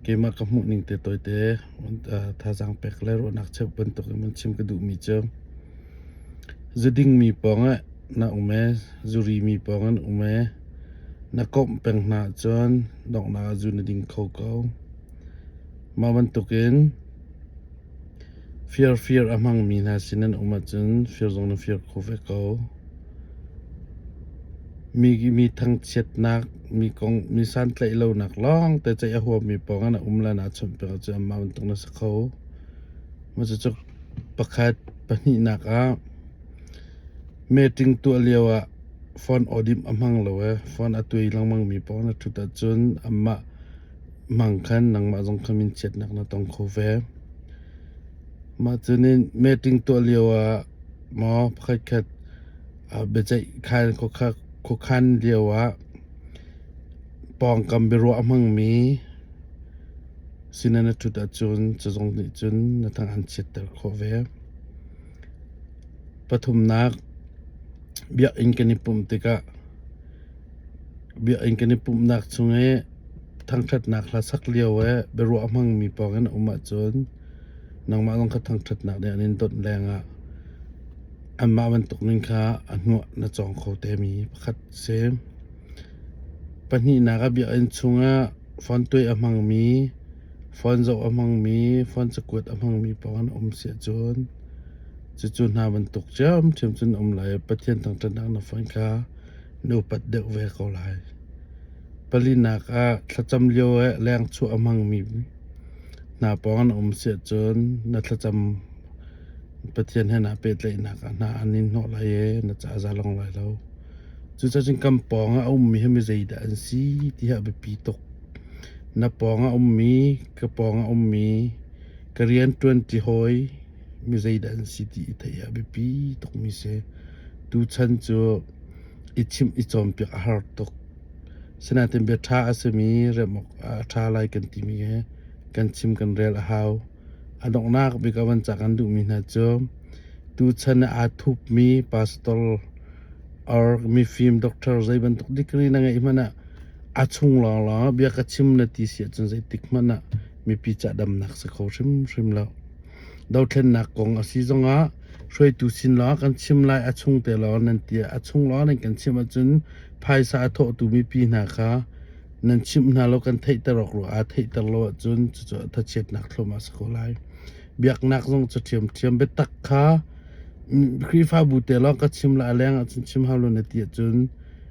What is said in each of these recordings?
Keimah ka hmuhning te tawite thazaang pek le ruahnak cheuh bantukin an chim ka duhmi cu zudingmi pawng ah na um e, zurimi pawng an um e, na komh peng hna ahcun donghnak ah zu na ding kho ko. Mah bantukin Firfir a hmangmi hna sin an um ahcun fir zong na fir kho ve ko. Mi, mi thangchiatnak, mi kong, mi santlaih lonak lawngte ceih a huammi pawngah na um le naa chawnhpiak ahcun amah bantuk na si kho. Cucu pakhat pahnihnak ah meeting tuah lio ah phone audit a hmang lo i phone a tuai lengmangmi pawng na ṭhut ahcun amah Mang khan nangmah zong kha minchiatnak na tong kho ve. Mah cu nih meeting tuah lio ah maw pakhatkhat biaceih khan khuakhan lio ah pawngkam biaruah a hmangmi sinah na ṭhut ahcun cazong nih cun na tang an chiatter khawh ve. Pathumnak biakinn kan i pumh tikah biakinn kan i pumhnak chung i thangṭhatnak hla sak lio i biaruah a hmangmi pawngin a um ahcun nangmah zong kha thangṭhatnak nih an in dawnh lengah anmah bantuk ning kha a hnuah na cawng kho temi pakhat a si. Pahnihnak a biakinn chungah fon tuai a hmangmi, fon zoh a hmangmi, fon cakuat a hmangmi pawng an um si ahcun cucu hna bantuk ṭhiamṭhiam cun a um lai i Pathian thangṭhatnak na fon kha na upat deuh ve ko lai. Palinak ah thlacam lio ah lengchuah a hmangmi hna pawng an um si ahcun na thlacam Pathian he naa pehtlaihnak ah hna an in hnawh lai i na cazalong lai lo. Cucacun kan pawng ah a ummi hi mizeidah an si tihi a biapi tuk. Na pawng ah ummi, ka pawng ah ummi, ka rianṭuanṭi hawi mizeidah an si ti i theih hi a biapi tukmi a si. Tuchan cu i chimh i cawnpiak a har tuk. Asinain bia ṭha a simi remh awkah a ṭha lai kan timi hi kan chim kan rel a hau. A donghnak bik a van cah kan duhmi hna cu tuchan ah aa thupmi pastor or mifim doctor zei bantuk degree na ngeih hmanh ah a chung lawnglawng ah bia ka chim na ti si ahcun zeitik hmanh ah mipi cahdamnak si kho hrimhrim lo. Dothlennak kong a si zongah hruaitu sin lawng kan chim lai a chung te lawng nan ti ah a chung lawng nan kan chim ahcun phaisa a thawhtu mipi hna kha nan chimh hna law kan theihter awk ruangah ah theihter lo ahcun cucu thachiatnak thlawm ah a si ko lai. Biaknak zong cu ṭhiamṭhiam biatak kha Khrihfabu te lawng ka chim la a leng ahcun chim hau lo na ti ahcun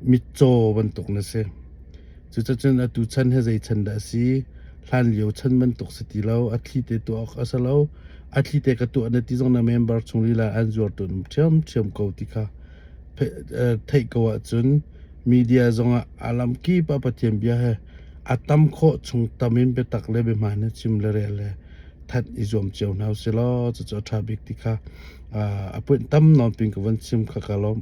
mitcaw bantuk na si. Cucacun atu chan he zei chan dah a si, hlan lio chan bantuk si ti lo, a thli te tuah awk a si lo, a thli te ka tuah na ti zong na member chung lila an zuartu ṭhiamṭhiam ko ti kha theih ko ahcun Media zongah a lamkip ah Pathian bia he a tam khawh chung tam in biatak le biahman he chim le rel le that i zuam cio hna u sih law cucu a ṭha bik ti kha a puanh tam nawn pin ka von chim kha ka lawmh.